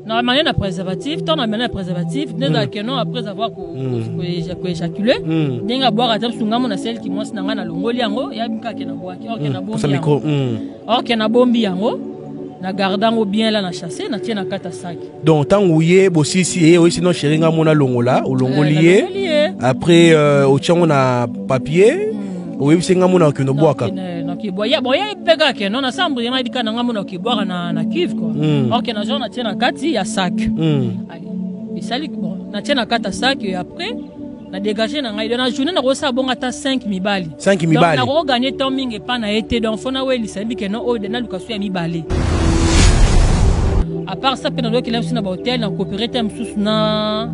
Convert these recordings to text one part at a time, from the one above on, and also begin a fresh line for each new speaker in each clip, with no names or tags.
na manière na préservatif ntango na manière na préservatif nde ezalaka hmm. keno après avoir koéjacule hmm. hmm. ndenge abwaka ata bisu ngambo na selki mwasi na ngai nalongoli yango yabi kaka ke nabwaki orke oh, nabombi yango na garda yango bien la na chasse na tie na kata saki donc ntango ye
bosisi ye oyesi no sheri ngai mona longola olongoli eh, ye après euh, otya yango na papier oyebisi nga mona okino bwaka ya boye
mpeka ke no nasambo yanga dika na nga mona okibwaka na na cuve quoi mm. ok na genre na tie na kati ya sac mm. esali bon na tie na kati ya sac et après na dégage na ngai na journée nakosala bongo ata 5 mibali 5 mibali nakoganye
temps mingi
epa na ye te donc fo nawelisa yebi ke no oyo naluka so ya mibale apart ça mpe nalokela biso na bahotel na coopere te mosusu na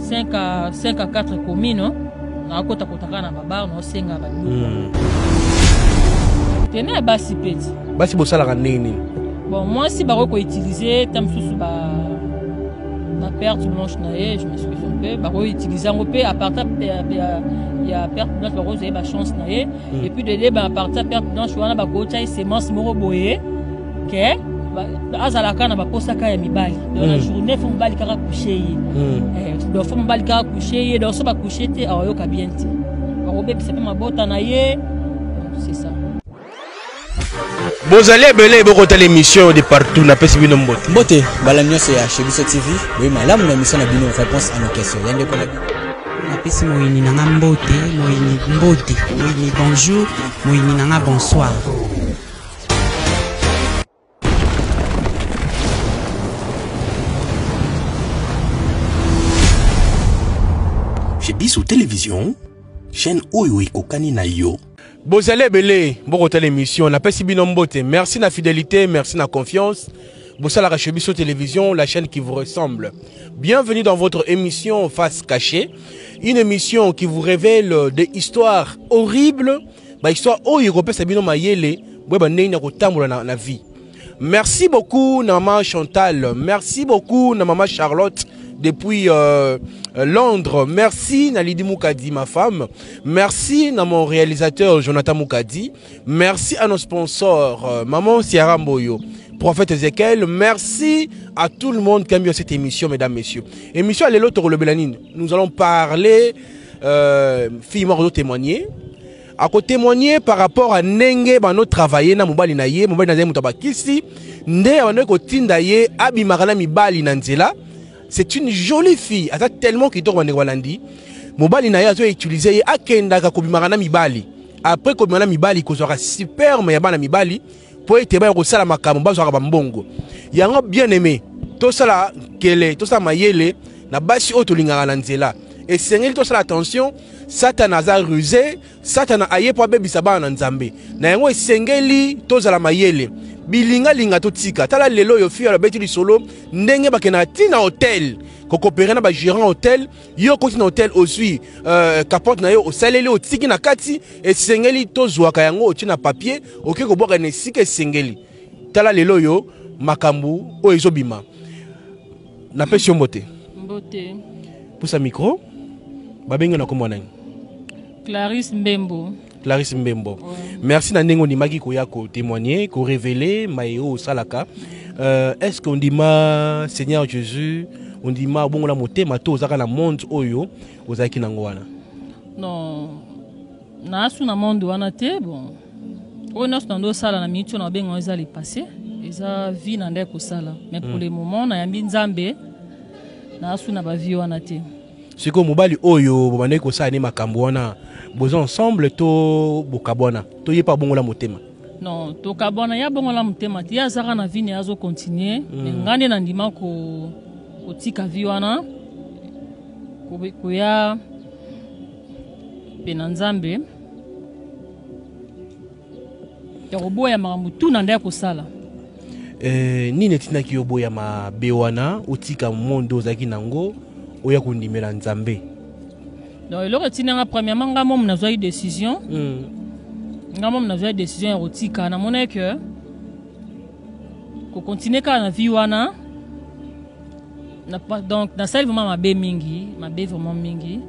5 à 5 à 4 communes nakota kota kaka na babar naosenga babiloko tene ya basi peti basi bosalaka ndenge
nini bon mwasi
bakoki koutilize ta mosusu ba na perte blanche na ye je m'excuse un peu bakoki utilize yango mpe aparta ya perte blanche bakoki ozwa ye bachance na ye epuis de leba aparta perte blanche wana bakotya ye semence moko boye ke azalaka na baposaka ya mibali donc na hmm. journée fo mobali kaka couche ye hmm. eh, donc fo mobali kaka couche ye donc so bacouche te awayoka bien te bakobebisa mpe mabota na ye c'est ça
bozali ebele bokotala émission de partout napesi bino mbote mbote mbala nyonso
ya chez biso tv boye malamu na émission na bino réponse à nos questions ya ndeko na bino napesi
moyini na nga mbote moyini mbote moyini bonjour moyini na nga bonsoir
Chez Bissou Télévision, chaîne Oyo Ekokani na yo. bozali ebele
bokotala émission napesi bino mbote merci na fidélité merci na confiance bosalaka chez biso télévision la chaîne qui vous ressemble bienvenue dans votre émission face cachée une émission qui vous révèle des histoires horribles ba histoire oyo ekopesa bino mayele boyeba ndenge na kotambola na, na vie merci beaucoup na mama chantal merci beaucoup na mama charlotte depuis euh, euh, Londres. Merci Nalidi Moukadi, ma femme. Merci à mon réalisateur Jonathan Moukadi. Merci à nos sponsors, euh, Maman Sierra Mboyo. Prophète Ezekiel, merci à tout le monde qui a mis cette émission, mesdames, messieurs. Émission à l'élo Nous allons parler euh, fille moko azotémoigne akotémoigne par rapport a ndenge bando travaille na mobali na ye mobali na ye moto abakisi nde abandaki kotinda ye abimaka na mibali na nzela c'est une jolie fille aza tellement kitoko bandeko balandi mobali na ye azoutilize ye akendaka kobimaka na mibali après kobima na mibali kozwaka superme ya bana mibali mpo ete baya kosala makambo bazwaka bambongo yango bien aimé tosala nkele tosala mayele na basi oyo tolingaka na nzela esengeli tosala attention satana aza ruse satana aye mpo abebisa bana na nzambe na yango esengeli tozala mayele bilingalinga totika tala lelo oyo fiyo alobeti lisolo ndenge bakendaka ntina hotel kokopere na bagérant hotel yo okoti na hotel ozwi euh, capote na yo osaleli otiki na kati esengeli tozwaka yango otie na papier okoki kobwaka na esika esengeli tala lelo oyo makambo oyo ezobima napesi yo mbote mbote pusa micro babengi na kombo nani clarisse
mbembo Clarisse Mbembo.
Merci na ndenge ondimaki koya ko témoigner, ko révéler maye oyo osalaka. Euh, est-ce qu'on dima Seigneur Jésus, on dima bongola motema to ozaka na monde oyo ozalaki nango wana? Non.
Na asu na monde wana te, bon. Oyo nyonso na ndo sala na minute oyo na benga eza le passé, eza vie na ndeko sala. Mais pour mm. le moment na yambi Nzambe na asu na ba vie wana te. sikoyo mobali
oyo bobandaki kosala ne makambo wana boza ensemble to bokabwana to ye mpe abongola motema non tokabwana
ye abongola motema te ye azaka na vie ne azo continue mm. me ngai nde nandima kotika vi wana koya mpe na nzambe ya koboya makambo tu na nda ya kosala
eh, nini etindaki yo boya mabe wana otika mondo ozalaki na yango oya kondimela nzambe donc
eloko etindanga premièrement ngai momo nazwaki décision mm. ngai momo nazwaki décision ya kotika namonaki ke kokontinue kaka na vie wana Na, donc nasali vraiment mabe mingi mabe vraiment mingi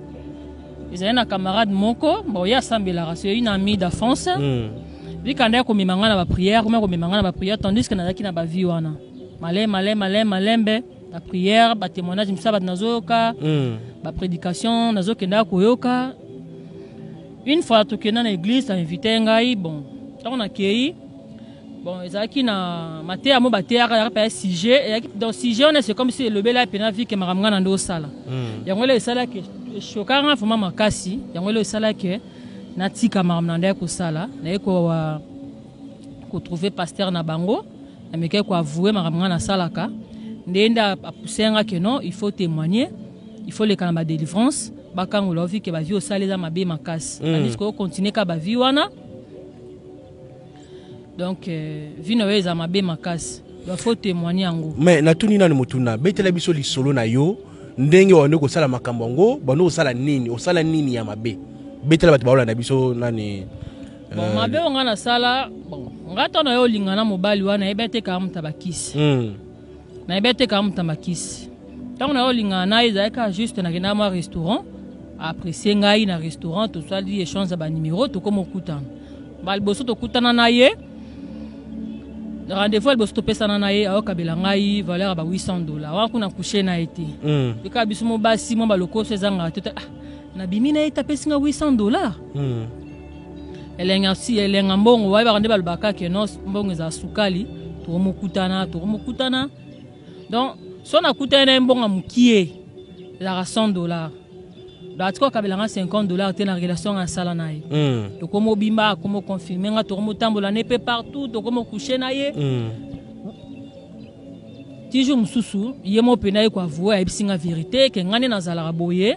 ezali na camarade moko bon ye asambelaka c'est une amie d'enfance mm. vikanda ya komema ngai na baprière komema komema ngai na baprière tandis que nazalaki na bavie wana male male male malembe baprière batémoignage mosusu bato nazoyoka mm. baprédication nazokendaka koyoka une fois tokenda na église ainvite ngai bon ntango nakei bon ezalaki na mateya mo bateyaka yaka mpe ya sujet eyaki donc sujet wana c'est comme si elobela mpena vie ke makambo ngai na nde osala hmm. yango elo esalaki eshokaka ngai vraimen makasi yango elo esalaki natika makambo na nde ya kosala naye kotrouve pasteur na bango namekaki koavoue makambo ngai nasalaka nde nde apousse nga ke non il faut témoigner il faut leka na badelivrance bakangola ovi ke bavie osala eza mabe makasi hmm. andisi koyo continue ka bavie wana donc euh, vie na yo eza mabe makasi donc faut témoigner yango mais natuni nanu motuna
betela biso lisolo na yo ndenge wande kosala makambo yango bando osala nini osala nini ya mabe betela bato baolanda biso nani bon, euh, mabe
oyo ngai nasala bon, ngai ntango na yo olingana mobali wana yebi ete kaka moto abakisi mm. nayebi atekaka moto na makisi ntango nayo olingana na ye ezalaki kaka juste nakendaka mwa restaurant apprecie ngai na restaurant tosali échange ya banimero tokoma okutana ba liboso tokutana na ye rendez-vous ya liboso topesana na ye ayokabela ngai valeur ya ba 800 dollar wana kuna couche na ye te mm. ekaka biso mo basi mwa balokoso ezangaka te ah, nabimi na ye te apesi ngai 800 dollar mm. elenga si elenga mbongo bayebaka nde balobaka ke no mbongo ezala sukali tokomokutana tokomokutana donc so nakutani na ye mbongo ya mokie ezalaka 100 dollar donc atika okabela nga 50 dollar te na relation nga asala na ye hmm. tokomobimba akomoconfirme nga tokomotambola ne mpe partout tokomokouche na ye hmm. ti jour mosusu ye mo mpe na ye koavoue ayebisi nga verité ke nga nde nazalaka boye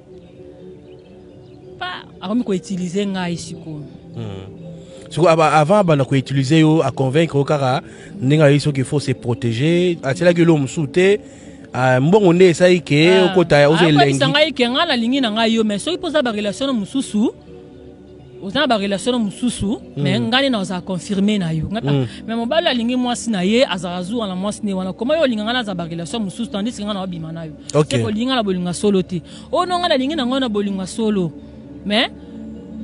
akomi koutilize ngai sikoyo hmm.
siko avant abanda koutilize yo aconvaincre yo kaka ndenge ayebi soki faut se protéger atielaki elo mosusu te ah, mbongo nde esali ke ah. okota ozo elengi ngai ke ngai nalingi
na ngai yo mais soki mpoza barelation na mosusu oza na barelation na mosusu mm. mais ngai nde nazala confirme na yo ngai mm. mais mobali alingi mwasi na ye azala zuwa na mwasi ne wana koma yo olinga ngai nazala barelation mosusu tandisi ngai na wabima na yo okay. olingi ngai na bolingo ya solo te oyo no ngai nalingi na ngai na bolingo ya solo mais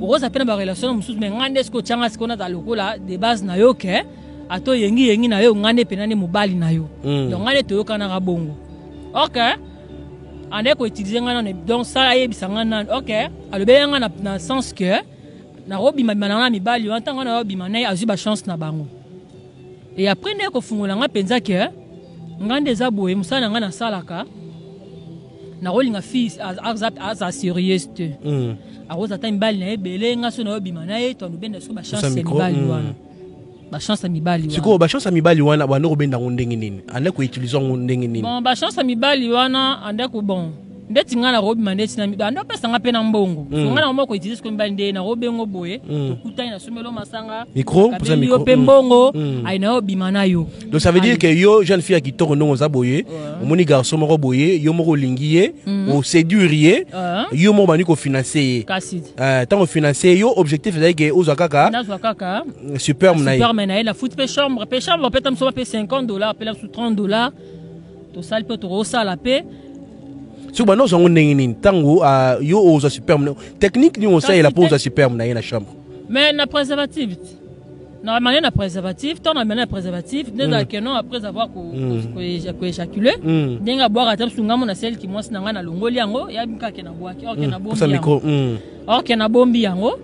okozala mpe na barelation na mosusu mais ngai nde soki otyanga sikoyo nazala lokola de base na yo ke ata oyengiyengi na yo ngai nde mpenza nde mobali na yo mm. donc ngai nde toyokanaka bongo ok anda ko utiliser nga nanu donc sala yebisa nga nanu ok alobeli nga na, na sens que nakobima bima nanga na mibali wana ntango wana yobima naye azwi bachance na bango e après nde kofungola nga mpenza ke nga nde eza boye mosala na nga nasalaka nakolinga fils aza serieuse te hmm. akozala ata mibali na ye ebele nga so nayobima na ye to alobenda so bachance ya mibali hmm. wana ba chance ya mibali wana sikoyo ba chance ya mibali wana
banda kobenda yango ndenge nini anda koutilize yango ndenge nini bon ba chance ya mibali
wana anda ko bon ndeti ngai nakobima ndeti na mibali anda opesa ngai mpe na mbongo mm. ngai nango moko utilize sikoyo mibali nde nakobengo boye mm. tokutani na somelo masanga kabeli yo
mpe mm. mbongo mm.
ayi nayo obima na yo donc ça veut dire que yo
jeune fille ya kitoko ndongo oza boye omoni garçon moko boye yo moko olingi ye mm. oséduire ye yo moko bandi kofinanse ye ntango eh, ofinanse ye yo objectif ezali ke ozwa kaka
superme na ye superme
na ye na futi pe
chambre pe chambre pe tamsoba pe 50 dollars pe la su 30 dollars to sali pe to rosala pe soki
banda ozwa yango ndenge nini ntango ah, yo ozwa superme technique nini osalela mpo ozwa superme na ye na chambre mais na préservative
na amane na préservatif ntango na amane na préservatif nde ezala ke non après avoir koéjacule ndenge abwaka ata msungamu na selki mwasi na ngai nalongoli yango yabi kaka ke nabwaki or ke nabombi yango or ke nabombi yango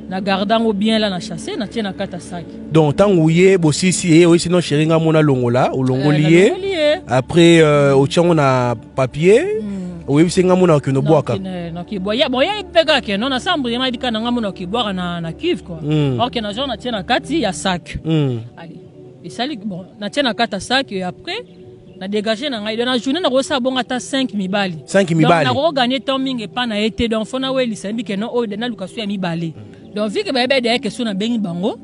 na garda yango bien la na chasse na tie na kata saki donc ntango ye
bosisi ye oyisi no sheri nga mona longola olongoli eh, ye après euh, otya yango na papier hmm. oyebisi nga mona okende obwaka
boyebeka ke no nasambre nga yebika na nga mona okibwaka na cuve kua hmm. or ke na genre na tie na kati ya sac hmm. esali bon na tie na kati ya sac et après na degage na ngai donc na journée nakoki osala bongo ata 5 mibali 5 mibali nakoki
gagner temps mingi
epa na ye te donc fo nawelisa yebi ke no oyo oh, naluka so ya mibale donc vike bayebi ede yeke so nabengi bango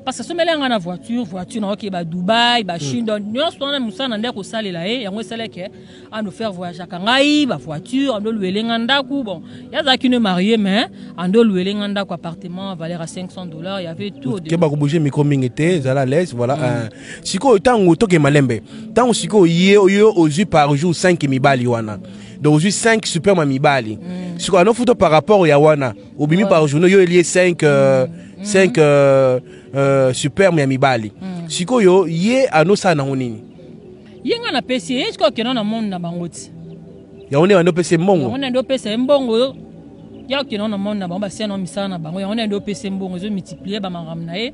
parce que asomeli yanga na voiture voiture nayoki ba dubai ba chine donc nyonso wana mosala na nde akosalela ye yango esalaki eh, ando faire voyageaka ngai ba voiture ando oluele nga ndako bon ye azalaki ne marie mais ando oluele nga ndako appartement valeur ya 500 dollars y avait tout keba kobouge micro
mingi te ezala laise voilà mm. euh, sikoyo ntango toke malembe ntango sikoyo ye oyo ozwi par jour 5 mibali wana donc ozwi 5 superma mibali mm. sikoyo anofuta par rapport ya wana obimi par journée yo elie 5 euh, 5 mm. euh, euh, superme ya mibali mm. sikoyo ye anosala nango nini ye ngai
napesi ye sikoyo akenda na monde na bango ti yango nde bandi
opesa ye mbongo yango nde opesa ye mbongo
yo ya okenda na monde na bango basiana misala na bango yango nde opesa ye mbongo ezomultiplier bamakambo na ye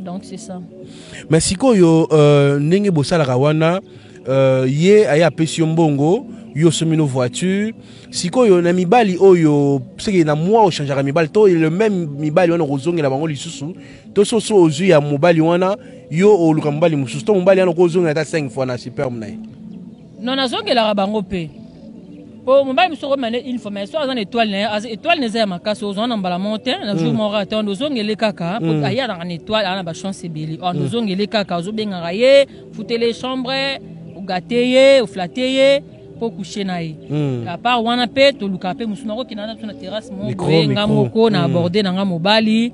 donc c'est ça mais sikoyo
euh, ndenge bosalaka wana euh, ye aye apesi yo mbongo yo osomi no voiture sikoyo na mibali oyo seke na mwa ochangeaka mibali to le même mibali wana okozongela bango lisusu to soso ozwi ya mobali wana yo oluka mobali mosusu to mobali wana okozongela ata 5 fois na superme na ye Non,
nazongelaka bango mpe po mobali mosusu okomema ne une fois mais so aza na étoile na ye étoile na eza ya makasi ozwa na mbala moko te na jour moko ata wana ozongele kaka po ayanaka na étoile aza na bachance ebele wana ozongele kaka ozobengaka ye futele chambre ogate ye oflate ye po couche na ye apart wana mpe tolukaka mpe mosusu nakokenda na biso na terrasse moko boye nga moko na aborde na nga mobali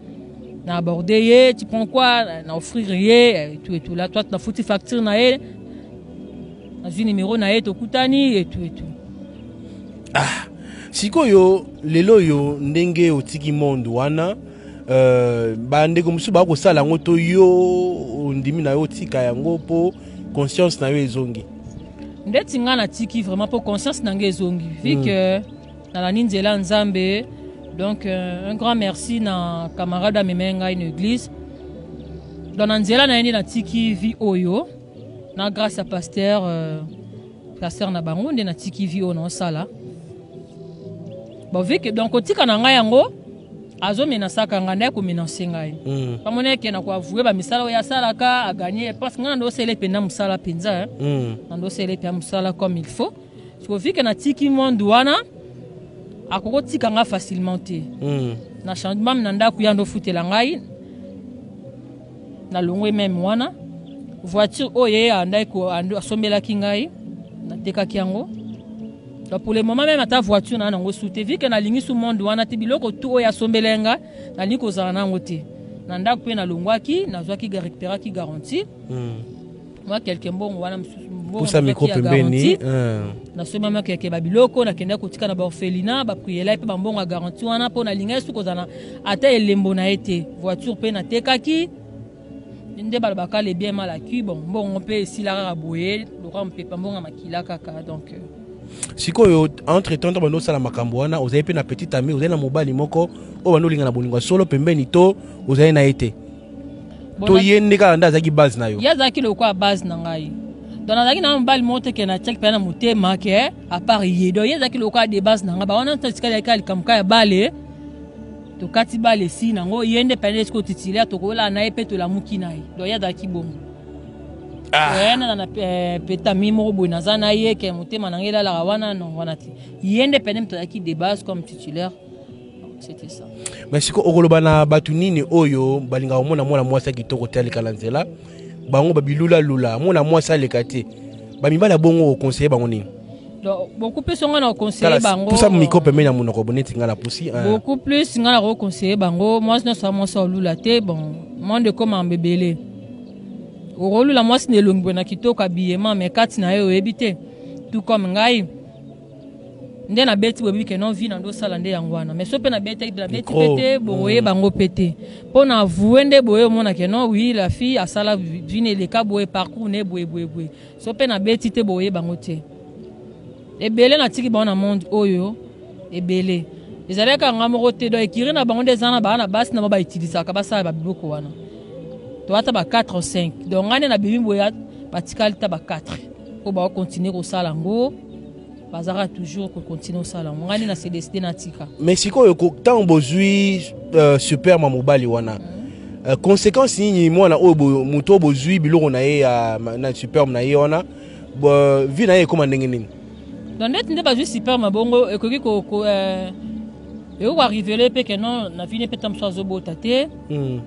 na aborde ye tu prends quoi na offrir ye tout et tout là toi nafuti facture na ye nazwi nimero na ye tokutani etu etu
ah sikoyo lelo oyo ndenge otiki monde wana uh, bandeko mosusu baa kosala yango to yo ondimi na yo otika yango mpo conscience na yo ezongi ndeti
ngai natiki vraiment mpo conscience na ngai ezongi vu mm. que nalandi nzela nzambe donc euh, un grand merci na camarade amemei ngai na église donc na nzela na ye nde natiki vie oyo na grâce ya pasteur euh, pasteur na bango nde natiki vi oyo naosala bovike donc kotika na ngai yango azomenasaka ngai ndaya komenanse ngai mm. bamoni eke na koavoue bamisala oyo asalaka aganye parce ngai nando osele mpenza mosala mpenza eh. mm. nando osele mpenza mosala comme il faut sikovike natiki monde wana akoki otika ngai facilement te mm. na changement na ndako ya ndo ofutela ngai nalongwe meme wana voiture oyo ye andaki asombelaki ngai natekaki yango pour le moment meme ata voiture na nango su te vike nalingi su monde wana te biloko tu oyo asombela ye ngai nalingi kozala na yango te na ndako mpe nalongwaki nazwaki récupéraki garantie mm. mwa kelke mbongo wana mosusu pusa mikro
pembeni eh. nasomba
mwa kelke babiloko nakendaki kotika na baorphelina baprielai mpe bambongo ya garanti wana mpo nalingaki soki kozala ata elembo na ye te voiture mpe natekaki nde balobaka le bien mal acquis bon mbongo mpe esila kaka boye lokola mopepa mbongo ya makila kaka donc euh. sikoyo
entre temps bando osala makambo wana ozali mpe na petit ami ozali na mobali moko oyo bando olinga na bolingo ya solo pembeni to ozali na ye te to ye nde kaka nde azalaki base na yo ye azalaki lokola base
na ngai donc nazalaki na mobali moko te ke natiaki mpenza na motema ke eh, apart ye donc ye ezalaki lokola de base na ngai bawana nso etikali yaki likambo ka ya bale tokati bale esi nango ye nde mpenza esiko titulaire tokoyolaa na ye mpe tolamuki na ye donc ye azalaki bongo ah. eh, nana na eh, petami moko boye naza na ye ke motema na ngai elalaka wana non wana te ye nde mpenza moto azalaki de base comme titulaire c'était ça mais siko okoloba
na bato nini oyo balingaka komona mwana mwasi ya kitoko te aleka na nzela bango babilulalula mwana mwasi aleka te bamibali ya bongo okonseye bango nini beaucoup plus
ngai na conseiller bango pusa micro pembeni ya
monoko bo neti ngai na pusi hein. beaucoup plus ngai na
conseiller bango mwasi nyonso ya mwasi olula te bon monde ekoma mbebele okolula mwasi na elongi boye na kitoko abiyema me kati na ye oyebi te tout comme ngai nde nabeti boyebi ke non vie na nde osala nde yango wana mais so mpe nabetaki de nabeti mpe te boye mm. bango mpe te mpo na avoue nde boye omona ke non oui la fille asala vie na eleka boye parcours ne boye boye boye so mpe nabeti te boye bango te ebele natiki bango na monde oyo ebele ezalaki kanga moko te donc ekiri na bango nde eza na bana basi na bango bautilisaka basala babiloko wana to ata ba 4 5 donc ngai nde nabimi boye batikali ta ba 4 oyo bakokontinue kosala yango bazalaka toujours kocontinue osala yango ngai nde na se decide natika mais sikoyo
ntango bozwi uh, superma mobali wana uh, conséquence nini mwana oyo moto oyo bozwi biloko na ye ya na superme na ye wana uh, vie na ye ekóma ndenge nini donc ndeti nde
bazwi superme bongo ekoki ko, ko euh, ekoki koarivele mpe ke non na vie ne mpe ntango mosusu azobota te hmm.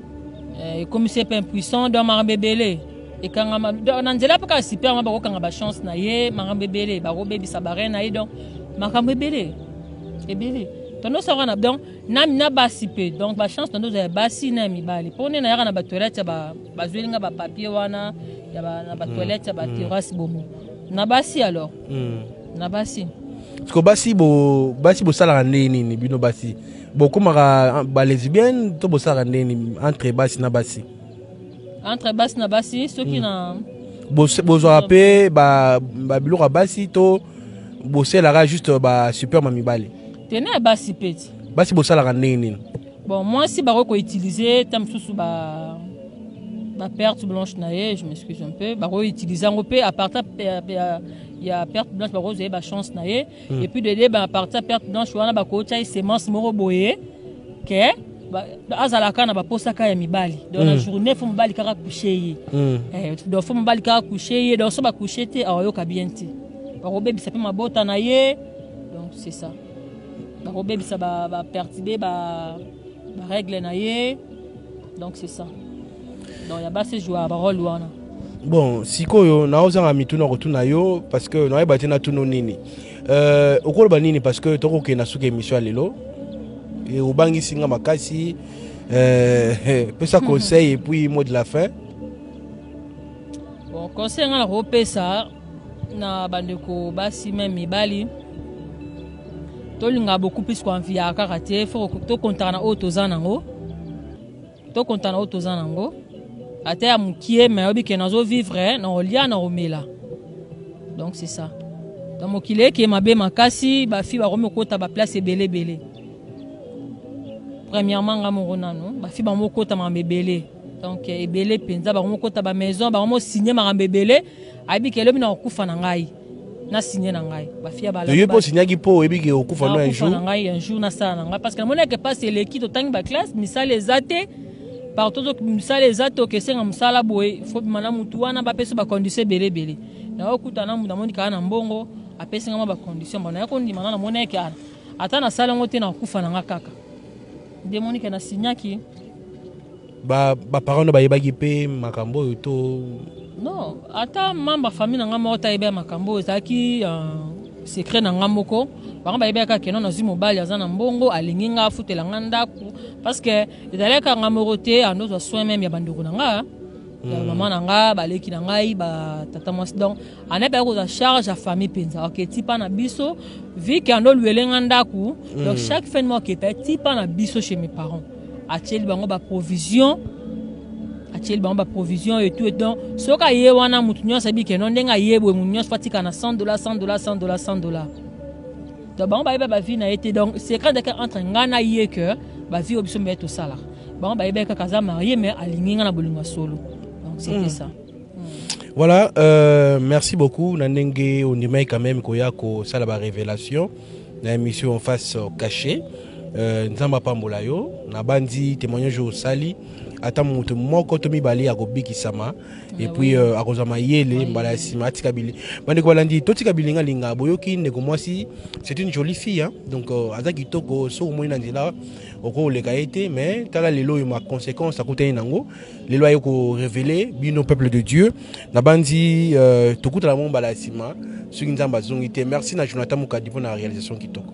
euh, ekomisi ye mpe impuissant donc makambo ebele ekangama na nzela mpe kaka super ma bakokanga bachance na ye makambo ebele bakobebisa bare na ye donc makambo ebele ebele tondo saka na donc na, na basi mpe donc bachance tondo ozala ya basi na ya mibali mpo nde nayaka na batoilette ya bazweli nga bapapier wana na batoilette ya baterrasse mm, mm. bomo na basi alors mm. na basi siko basi
basi bosalaka ndenge nini bino basi bokomaka balesbienne to bosalaka ndenge nini entre basi na basi entre
basi na basi soki na bozwaka
mpe babiloko ya basi to boselaka juste basuperme ya mibali tene ya basi
mpe ti basi bosalaka ndenge
nini bon mwasi
bakoki koutilize ta mosusu ba ba perte blanche na ye je m'excuse un peu bakoki utilize yango mpe apartir ya perte blanche bakozwa ye bachance na ye mm. et puis de deba à partir perte blanche wana ba ko tia semence moko boye que azalaka na baposaka ya mibali donc mm. na journée fo mobali kaka couche ye mm. eh, donc fo mobali kaka couche ye donc so bacouche te awayoka bien te bakobebisa mpe mabota na ye donc c'est ça bakobebisa bapertibe ba, ba, ba règle na ye donc c'est ça donc ya basi jouer ba role wana bon
sikoyo naozanga mituna kotuna yo parce que nayeba te natuna nini euh, okoloba nini parce que tokokenda suka émission ya lelo e, obangisi nga makasi euh, pesa conseil et puis mot de la fin
bon conseil nga nakopesa na bandeko basi meme mibali tolinga beaucoup plus koanviaka kaka te fo tokontaka na oyo toza nango To konta na oyo toza nango. Ata ya mukie mais obi ke nazo vivre na olia na omela. Donc c'est ça. Donc mokili eke mabe makasi ba fi ba komi kota ba place ebele bele. Premièrement nga moko nano ba fi ba mo kota ma mebele. Donc ebele penza ba mo kota ba maison ba mo signer ma mebele. Abi ke lobi na okufa na ngai. na signe na ngai bafi ya bala yo po signaki po oyebi
ke okufa no un jour na ngai un jour na sala
na ngai parce que namonaki pasi eleki totangi ba classe misala eza te partout misala eza te okesenga mosala boye fo bima na motu wana bapesa bacondition ebele ebele naokuta na motu amoni kaka na mbongo apesi ngai mwa bacondition mbona ya kondima na namoni yake ana ata nasala yango te nakufa na ngai kaka nde monike na signaki
ba ba parents na bayebaki pe makambo oyo to non
ata membre famille na ngai moko ta yebi makambo oyo ezalaki euh, secret na ngai moko bango bayebaki kaka keno nazwi mobali aza na mbongo alingi ngai afutela ngai ndako parce que ezalaki kaka ngai moko te ando ozwa soin meme ya bandeko na ngai ya hmm. mama na ngai baleki na ngai batata mwasi donc anayebi ayaki kozwa charge ya famille mpenza oke tipa na biso vike ando olwele ngai ndako hmm. donc chaque fin de mois oke tipa na biso chez mes parents atieli bango ba provision atieli bango ba provision et tout et donc soki aye wana moto nyonso ayebi ke non ndenge aye boye moto nyonso fatika na 100 dollars 100 dollars 100 dollars 100 dollars donc bango bayeba bavie na ye te donc secret ndeke entre ngai na ye ke bavie oyo biso mibale tosalaka bango bayebaki kaka aza marie mais alingi ngai na bolingo ya solo donc c'était hmm. ça hmm. voilà
euh, merci beaucoup na ndenge ondimaki quand même koya kosala barévélation na emission face cache euh, nzambe apambola yo nabanzi témoignage oyo osali ata moto moko to mibale akobikisama ah epuis euh, akozwa mayele mbala ya nsima atika bili bandeko balandi totika bilingalinga boyoki ndeko mwasi c'est une jolie fille hein? donc euh, aza kitoko soki omoni na nzela okoleka ye te mais tala lelo oyo ma conséquence akutani nango lelo aye korevele bino peuple de dieu nabanzi euh, tokutana mwa mbala ya nsima soki nzambe azongi te merci na jonathan mokadi mpo na réalisation kitoko